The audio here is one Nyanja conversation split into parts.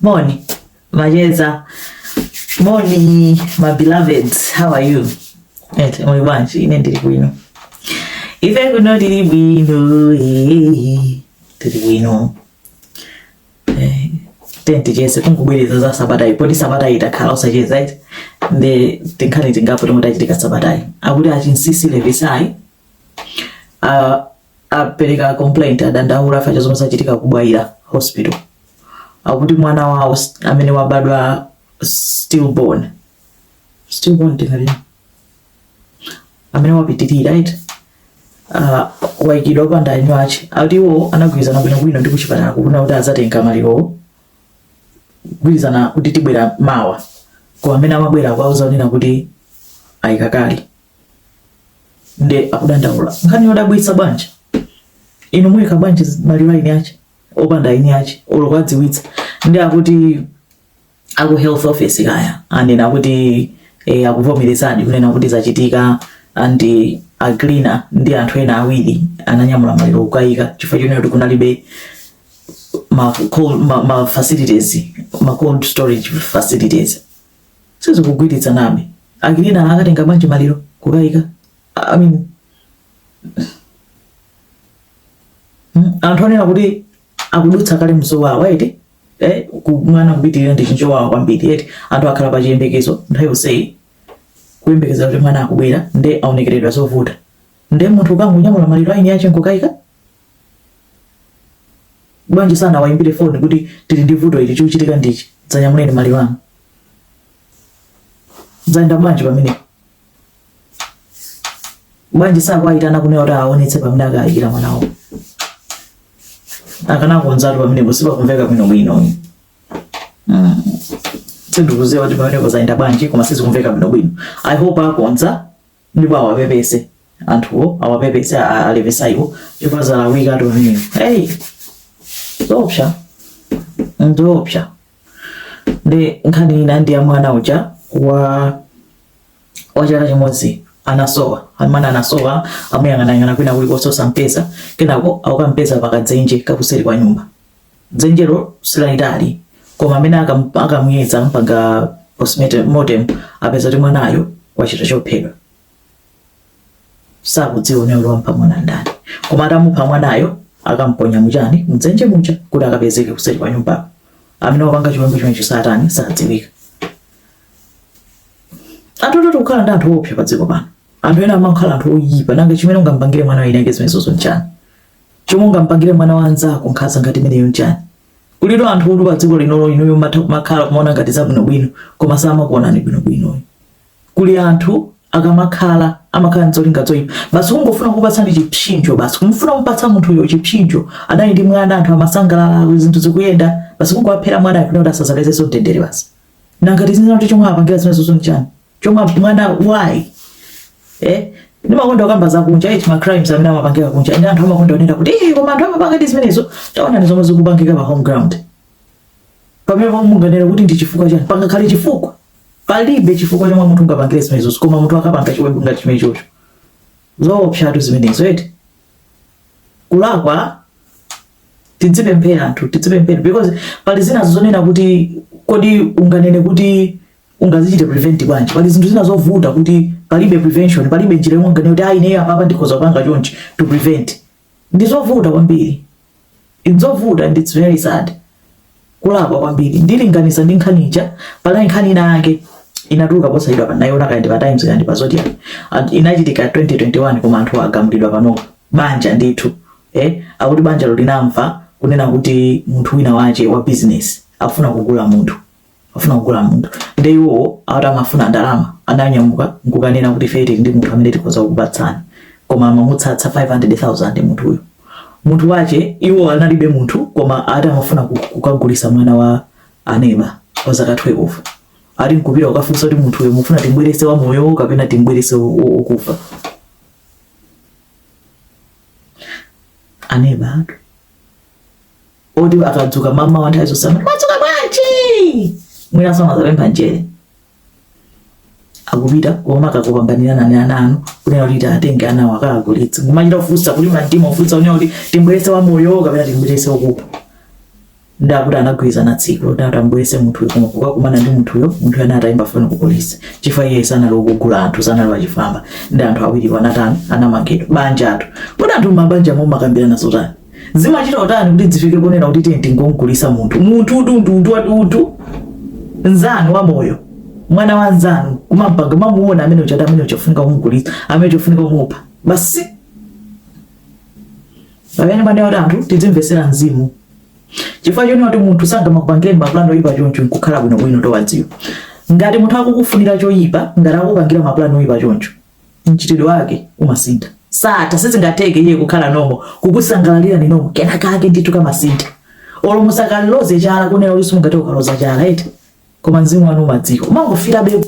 Moni macheza, moni my beloveds, how are you? Eti muli bwanji, ine ndili bwino. Ife kuno tili bwino, eh, ndili bwino. Eh, tiyeni ticheze kungubwereza za sabatayi poti sabatayi takhala osacheza eti nde tinkhani tingapo tomwe tachitika sabatayi akuti a Chinsinsi Levisayi uh, apereka complaint adandaula chifukwa cha zomwe zachitika ku Bwaila hospital akuti mwana wawo s- amene wabadwa stillborn stillborn tinganene amene wapitirira right uh, waikidwa opanda eni ache akuti iwo anagwirizana bwinobwino ndi kuchipatala kunena kuti azatenga malirowo kugwirizana kuti tibwera mawa koma amene amabwera kwauza onena kuti ayika kale nde akudandaula nkhani yodabwitsa bwanji inu muyika bwanji maliro a eni ache opanda eni ache olo kuwadziwitsa nde akuti aku health office kaya anena akuti eh, akuvomerezadi kunena kuti zachitika and a cleaner ndi anthu ena awiri ananyamula maliro kukayika chifukwa chonena kuti kunalibe ma, cold, ma, ma facilities ma cold storage facilities sizikugwirizanabe a cleaner anakatenga bwanji maliro kukaika I mean, mm, anthu onena kuti akudutsa kale mzowawa eti eh, kumwana kupitirira ndi chinthu chowawa kwambiri eti anthu akhala pa chiyembekezo nthawi yonseyi kuyembekeza kuti mwana akubwera nde aonekeredwa zovuta nde munthu ukangonyamula maliro a eni ache nkukaika bwanji sanawaimbire foni kuti tili ndi vuto ili chikuchitika ndichi dzanyamuleni maliro anu zayenda bwanji pamene bwanji osawayitana kunena kuti aonetse pamene akayikira mwana wawo akanakonzatu pamenepo sipakumveka bwino bwino mm. sindikuziwa kuti pamenepo zayenda bwanji koma sizikumveka bwino bwino i hope akonza ndipo awapepese anthuwo awapepese a Levisayiwo chifukwa zalakwikatu pamenepo hey zoopsa nzoopsa nde nkhani ina ndi ya mwana uja wa wa chaka chimodzi anasowa amene anasowa amuyang'anayang'ana kwina kulikonse osampeza kenako akukampeza pakadzenje kakuseri kwa nyumba dzenjelo silalitali koma amene akam- akamuyeza ampanga postmortem apeza kuti mwanayo wachita chophedwa sakudziwa amene wamupha mwana ndani koma atamupha mwanayo akamponya mujani mdzenje muja kuti akapezeke kuseri kwa nyumba amene wapanga chiwembu chimenecho satana sadziwika aa tototo tikukhala ndi anthu opsa pa dziko pano anthu ena amakhala anthu oyipa nanga chimene ungampangire mwana wina ake zimenezozo nchani Chomwe ungampangire mwana wa nzako nkhaza ngati imeneyo nchani? Kulitu anthutu padziko lino inuyo mmatha kumakhala kumaona ngati zabwinobwino koma samakuonani bwinobwinoyi. Kuli anthu akamakhala amakhala nzolinga zoipa basi kungofuna kukupatsani chipsinjo basi kufuna kumupatsa munthuyo chipsinjo adali ndi mwana anthu amasangalala zinthu zikuyenda basi kungowaphera mwana kuti asazapezenso mtendere basi. nanga tizinena kuti chomwe apangira zimenezozo nchani chomwe mwana why eh ndimakonda kukamba za kunja eti ma crimes amene amapangika kunja nde anthu amakonda kunena kuti eh koma anthu amapanga zimenezo taonani zomwe zikupangika pa home ground pamene pomwe munganene kuti ndi chifukwa chani pangakhale chifukwa palibe chifukwa chomwe munthu ungapangire zimenezozo koma munthu akapanga chiwembu ngati chimenechocho zoopsatu zimenezo eti kulakwa tidzipemphera anthu tidzipemphera because pali zina zonena kuti kodi unganene kuti ungazichite prevent bwanji pali zinthu zina zovuta kuti palibe prevention palibe njira yomwe unganene kuti ayi ineyo apapa ndikhoza kupanga chonchi to prevent ndi zovuta kwambiri Ndzovuta and it's very sad kulakwa kwambiri ndilinganize ndi nkhani ija panali nkhani ina yake inatuluka posachedwapa ndinaiona kaya ndi pa times kaya ndi pa zodiak and inachitika 2021 koma anthu agamulidwa panopa banja ndithu eh akuti banjalo linamva kunena kuti munthu wina wache wa business afuna kugula munthu afuna kugula munthu nde iwowo ati amafuna ndalama ananyamuka nkukanena kuti ife tili ndi munthu amene tikhoza kukupatsani koma amamutsatsa 500000 munthuyo munthu wache iwo analibe munthu koma ati amafuna ku- kukagulisa mwana wa aneba wa zaka 12 ati nkupita ukafunsa kuti munthuyo mufuna timbwerese wa moyo kapena timbwerese wo- wo- wokufa anebatu oti akadzuka mamawa nthawi zonse madzuka bwanji mwina samazapempha njere akupita koma akukupanganirani ana anu kunena kuti atenge ana awo akawagulitse kumachita kufunsa kulima mtima kufunsa kunena kuti timbwerese wa moyo kapena timbwerese wakufa nde akuti anagwirizana tsiku loti atambwerese munthuyo kukakumana ndi munthuyo munthuyo anali atayimba foni ku polisi chifukwa iye sanali wokugula anthu sanali wachifwamba nde anthu awiriwo anatani anamangidwa banjatu kodi anthu mabanja mumakambirana zotani zimachita kutani kuti zifike ponena kuti tiye tingomgulisa munthu munthutu ndi utu wati utu nzanu wa moyo mwana wa nzanu kumampanga mamuuna amene uja ati amene uja afunika kumgulisa amene uja afunika kumupha basi pamene panena kuti anthu tidzimvesera mzimu chifukwa chonena kuti munthu sangamakupangire mapulani oyipa choncho nkukhala bwinobwino osadziwa ngati munthu akukufunira choyipa ngati akukupangira mapulani oyipa choncho mchitidwe wake umasintha satha sizingatheke iye kukhala nomo kukusangalalira inu nomo kenakake ndithu kamasintha olo musakaloze chala kunena kuti simungate ukaloza chala eti koma mzimu wanu umadziwa umangofila be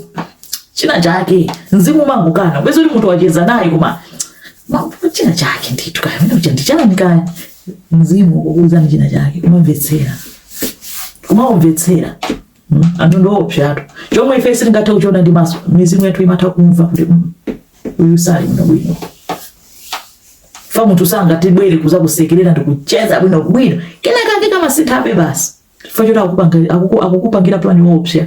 china chake mzimu umangokana bwezi kuti munthu wacheza naye koma china chake ndithu kaya mene ucha ndichani kaya mzimu ukukuuzani china chake umamvetsera umamvetsera mm, anthu ndi oopsatu chomwe ife sitingathe kuchiona ndi maso mizimu yathu imatha kumva kuti mm, uyu sali bwino bwino chifukwa munthu angatibwere kudzakusekerera ndi kucheza bwino bwino kenakake kamasinthabe basi chifukwa choti akukupanga- akuku- akukupangira pulani woopsa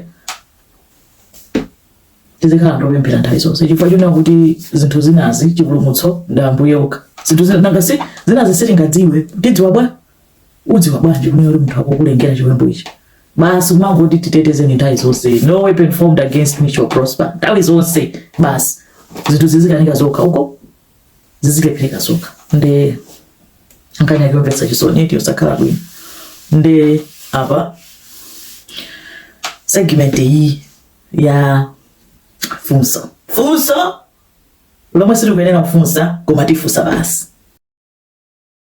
tizikhala ndopemphera nthawi zonse chifukwa chonena kuti zinthu zinazi chipulumutso ndi ambuye okha zinthu zina- nanga si zinazi sitingadziwe tidziwa bwa udziwa bwanji kumene uli munthu akukulengera chiwembu ichi basi kumangoti titetezeni nthawi zonse no weapon formed against me shall prosper nthawi zonse basi zinthu zizikanika zokha uko zizilephereka zokha nde nkhani yake yomvetsa chisoni eti yosakhala bwino nde apa segment iyi ya funso funso lomwe sitikuyenera kufunsa koma tifunsa basi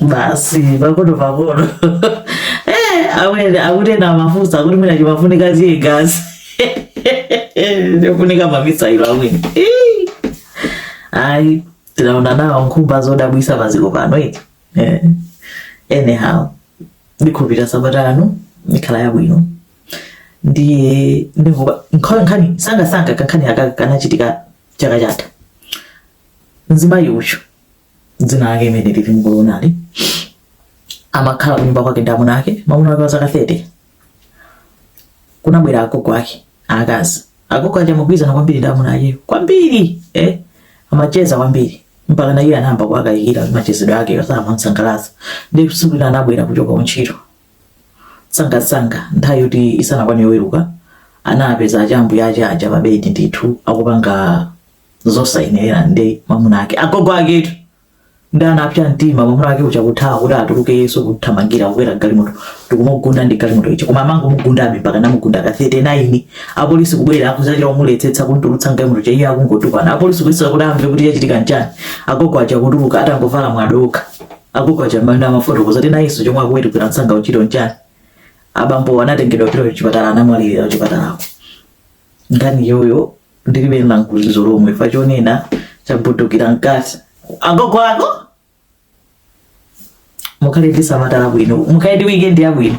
basi pakono pakono Eh, awene akutenda amafunsa akuti mwina chimafunika ziye gazi ndiofunika mamisailo awene Ih. ayi tinaona nawo nkhumba zodabwisa padziko pano eti Eh. anyhow ndikhulupirira sabata ino ikhala yabwino ndiye ndimvuka nkhani sangasanga kankhani aka kanachitika chaka chatha Mzimayi uyu dzina lake imene lili mkulonali amakhala kunyumba kwake ndi amuna ake mamuna wake wa zaka 30 kunabwera agogo ake akazi agogo aja amagwirizana kwambiri ndi amuna ake kwambiri eh? amacheza kwambiri mpaka na iye anayamba kuwakayikira machezedwe ake osamamusangalatsa nde tsiku lina anabwera kuchoka kuntchito sangasanga nthawi yoti isanakwane yoweruka anapeza achambuye ake aja pabedi ndithu akupanga zosayenera ndi mamuna ake agogo aketu nde anapsa mtima mamuna ake uja kuthawa kuti atuluke iye uja kuthamangira kukwera galimoto ndikumugunda ndi galimoto icho koma amangomugundabe mpaka anamugunda ka 39 apolisi kubwera kudzachita kumuletsetsa kumutulutsa mgalimoto cha iye akungotukwana apolisi kuyesa kuti amve kuti yachitika nchani agogo aja kutuluka atangovala mwadoka agogo aja manda amafoto kudzati na iye chomwe wawerukira msanga kuntchito nchani abambo anatengedwa kupita kuchipatala anamwalirira kuchipatalako nkhani iyoyo ndilibe langulizo lomwe chifukwa chonena chaphulikira mkati agogo ako mukhale ndi sabata labwino mukhale ndi wikendi yabwino